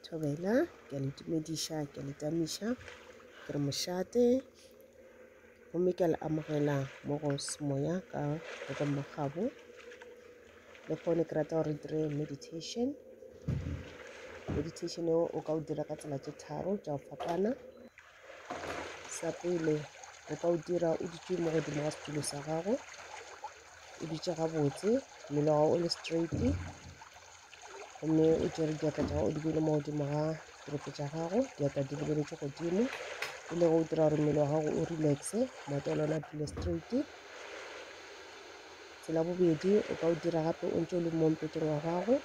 Thobela, ke a le tumediša, ke a le tamiša, ke re mošate, gomme ke a le amogela mo go semoya ka le ka mogabo. Le gone ke rata gore re dire meditation. Meditation eo o ka o dira ka tsela tše tharo tša go fapana. sa pele o ka o dira o dutše mo godimo ga setulo sa gago o dutše gabotse mmele wa gago o le straight gomme o tšere diatla tša gago o di bele mo godimo ga dirope tša gago diatla di lebeletse godimo e le go o dira gore mmele wa gago o relaxe maoto a lona a dule straight tsela bobedi o ka o dira gape o ntse o le mo mpeteng wa gago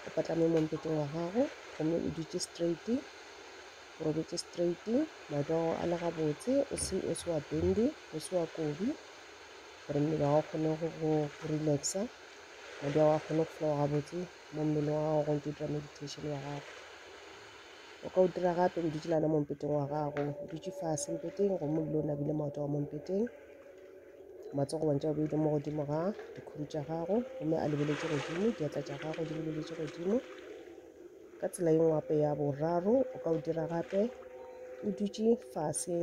o patlame mo mpeteng wa gago gomme o dutše straight Robetse straight, matsogo a le gabotse, o se o se wa bendi, o se wa kobi gore mmele wa gago kgone go go relaxa, madi a gago a kgone go flowa gabotse mo mmeleng wa gago go ntse o dira meditation wa gago. O ka o dira gape o dutse lana mo mpeteng wa gago, o dutse fase mpeteng gomme o dule o nabile maoto a gago mo mpeteng, matsogo wa ntse wa beile mo godimo ga dikhuru tša gago gomme a lebeletse godimo, diatla tša gago di lebeletse godimo, Ka tsela ye ngwape ya boraro o ka o dira gape o dutše fase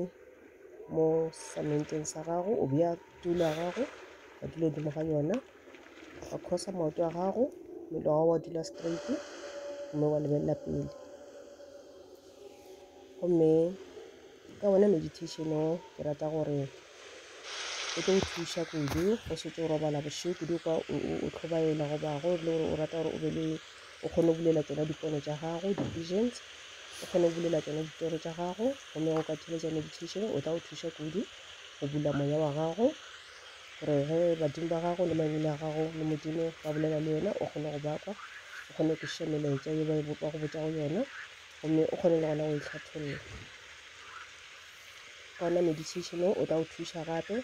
mo samenteng sa gago o bea tulo ya gago wa dula godimo ga yona wa khosa maoto a gago mmele wa gago wa dula straight mme wa lebelela pele gomme ka wona meditation o ke rata gore o tlo go thuša kudu go setse o robala bošego kudu kwa o tlhobaela goba go le gore o rata gore o be le o kgone go bulela tsona dipono tša gago di-visions o kgone go bulela tsona ditoro tša gago gomme go ka theletša meditation o tla go thuša kudu go bula moya wa gago gore ge badimo ba gago le mangwele a gago le modimo ba bolela le wena o kgone go bakwa o kgone go kwešiša melaetša ye ba e bopa go botša go yona gomme o kgone le gona go e hlatholla Gona meditation wo o tla go thuša gape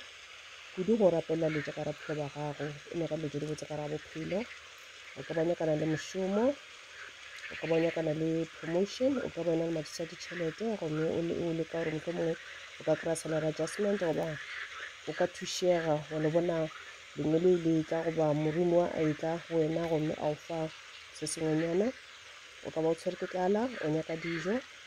kudu go rapelela dilo tša ka ra bophelo ba gago, e lego dilo tše di botse ka ra bophelo. O ka ba nyakana le mošomo, o ka ba nyakana le promotion, o ka ba yona le mathata a ditšhelete gomme o leka gore mohlho mongwe o ka kry-a salary adjustment goba o ka thušega wa le bona lengwe le le tla goba morimo wa a e tla go wena gomme a o fa se sengwenyana o ka ba o tshwere ke tlala o nyaka dijo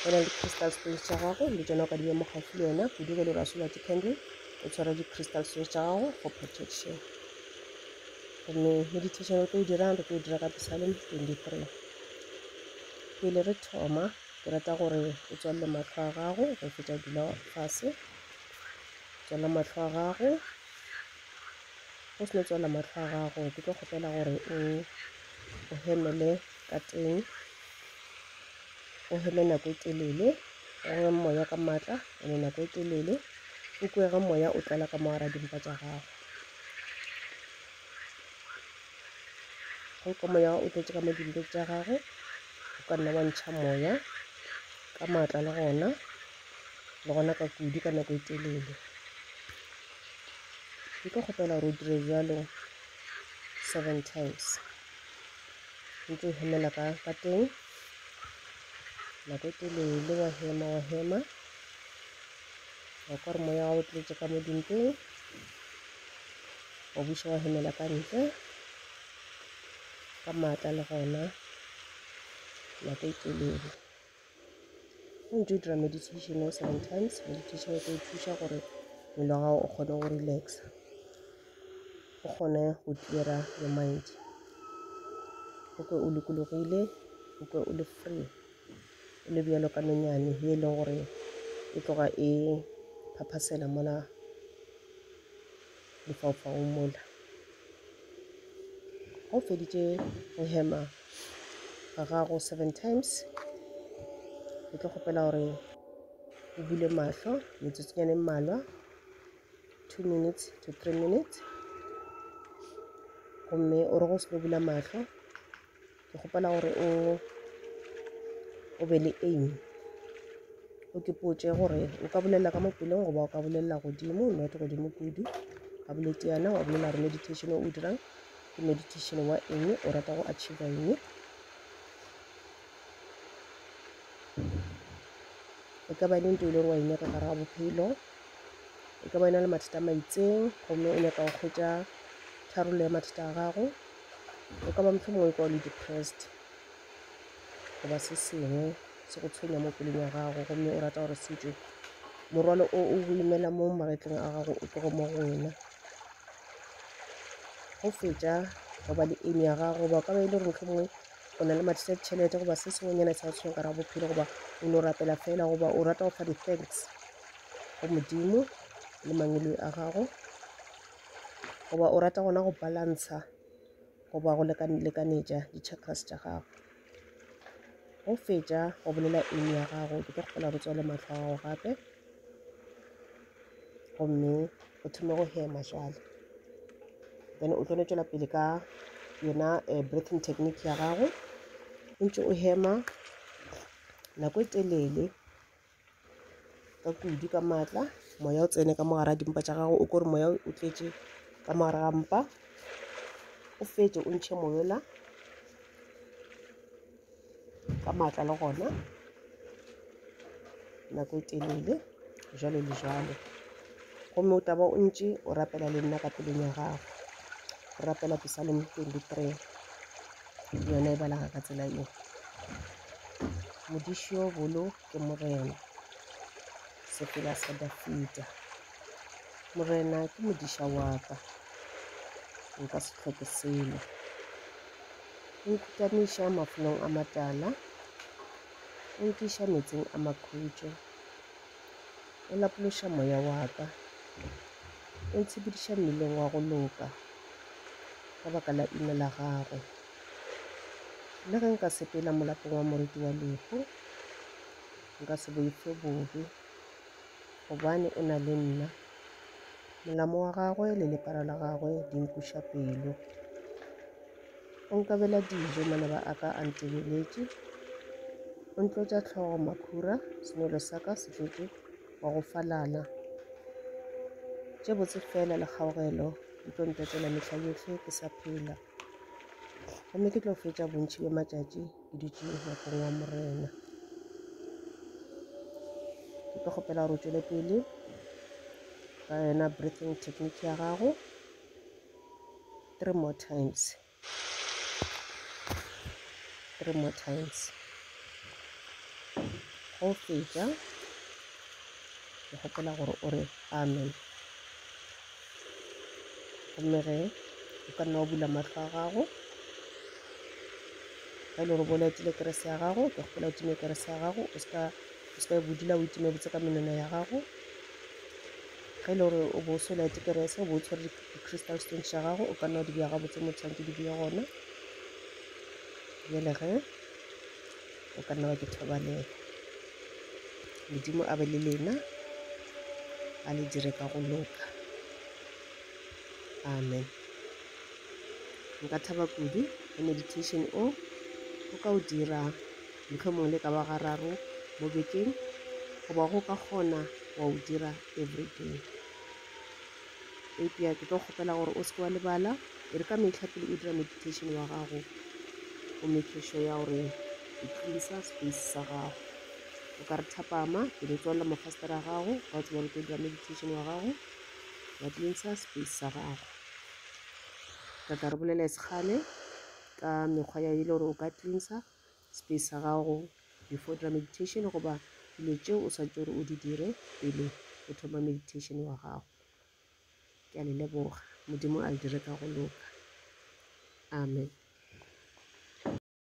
go na le di-crystal stones tša gago le tsona o ka di bea mo gaufi le yona kudu ge le rasola di-candle o tshwara di-crystal stones tša gago for protection gomme meditation re tlo e dirang re tlo e dira ka psalm 23 pele re thoma ke rata gore o tswalele matlho a gago go fetsa dula fase tswala matlho a gago O seno tswala mahlo a gago, ke tlo kgopela gore o o hemele ka teng, o heme nako e telele, o re moya ka matla ene nako e telele, o kwe ge moya o tlala ka mo gara dimpa tša gago. Ge o kwa moya o tletše ka mo dimpeng tša gago, o ka nna wa ntšha moya ka matla le gona, le gona ka kudu ka nako e telele. Nko kgopela gore o dire bjalo seven times. Ntse o hemela ka ka teng. Nako e telele wa hema wa hema. Wa kwa gore moya wa o tletše ka mo dimpeng. Wa buša wa hemela ka ntle. Ka maatla le gona. Nako e telele. Go ntši o dira meditation o sometimes meditation e tlo go thuša gore mmele wa gago o kgone go relax-a, o kgone go clear-a le mind o kwe o lokologile o kwe o le free o le bjalo ka nonyane ye e leng gore e tloga e phaphasela mola lefaufau mola. Ga o feditše go hema ga gago seven times ke tlo kgopela gore o bule mahlo metsotsonyane mmalwa two minutes to three minutes gomme o re go se bula mahlo Ke kgopela gore o o be le aim. O ke potše gore o ka bolelela ka mopelong goba o ka bolelela godimo not godimo kudu a boletse yana wa bolela gore meditation o dirang ke meditation wa eng o rata go achieva eng e ka ba e le nto e leng wa e nyaka gare ga bophelo e ka ba e na le mathata a maitseng gomme o nyaka go kgwetsa tharollo ya mathata a gago O ka ba mohlomongwe o kwa o le depressed goba se sengwe se go tshwenya mo pelong ya gago gomme o rata gore se tšwe morwalo o o go imela mo magetleng a gago o tlogo mo go wena go fetša goba le eng ya gago goba o ka ba e le gore mohlomongwe o na le mathata a ditšhelete goba se sengwenyana sa go tshwenya ka ra bophelo goba o no rapela fela goba o rata go fa di-thanks go modimo le mangweloi a gago goba o rata gona go balantsha goba go lekanetša di-chakras tša gago go fetša go bolela eng ya gago ke tlo kgopela go tswale matlho a gago gape gomme o thome go hema jale then o tlo no tšwela pele ka yona um breathing technique ya gago o ntse o hema nako e telele ka kudu ka maatla moya o tsene ka mo gare a dimpa tša gago o kore moya o tletše ka mo gare ga mpa o fetse o ntšhe moyola ka maatla le gona nako e telele jalo le jalo gomme o taba o ntše o rapela le nna ka pelong ya gago o rapela pisalem 23 yona e balaga ka tsela eo modisio bolo Ke Morena, sepela sa Dafida. Morena ke modiša wa ka, nka se hloke selo. O nkhutamiša mafelong a matala, o nkiša metsing a makhutšo. O lapološa moya wa ka, o ntshepediša mmileng wa go loka ka baka la leina la gagwe. Le ge nka sepela molapong wa moriti wa lehu, Nka se boife bobe, gobane o na le nna. Molamo wa gagwe le lepara la gagwe di nkweša pelo. O nkabela dijo, manaba a ka a ntebeletše. O ntlotša hlogo makhura, senwelo sa ka se tletše wa go falala. Tše botse fela le kgaogelo di tlo ntetela mehla yohle ke sa phela. gomme ke tlo fetša bontši bja matšatši ke dutše ngwakong wa morena ke tlo kgopela gore o tšwele pele ka yona breathing technique ya gago three more times three more times go fetša ke kgopela gore o re amen gomme ge o ka nna wa bula mahlo a gago ga e le gore bo laetile kerese ya gago ke kgopola o time kerese ya gago o seka o seka e bodula o itime botse ka menwana ya gago ge e le gore o bo o se o laete kerese o bo o tshwere di-crystal stone tša gago o ka nna wa di bja gabotse mo tshwanetse di bje gona bjale ge o ka nna wa ke thobalela modimo a be le lena a le dire ka go loka amen nka thaba kudu le meditation o o ka o dira mohlomong le ka ba gararo mo bekeng goba go ka kgona wa o dira everyday Eupša ke tlo kgopela gore o se ke wa lebala, e re ka mehla pele o dira meditation wa gago, o make sure ya gore o cleansa space sa gago. O ka re thapama, pele o tswalela mafastere a gago, wa tseba gore o tlo dira meditation wa gago, wa cleansa space sa gago. Ka tla re bolela e se kgale ka mekgwa ya e le gore o ka cleansa Space sa gago before o dira meditation goba dilo tšeo o swanetše gore o di dire pele o thoma meditation wa gago. Ke a le leboga. Modimo a le dire ka go loka. Amen.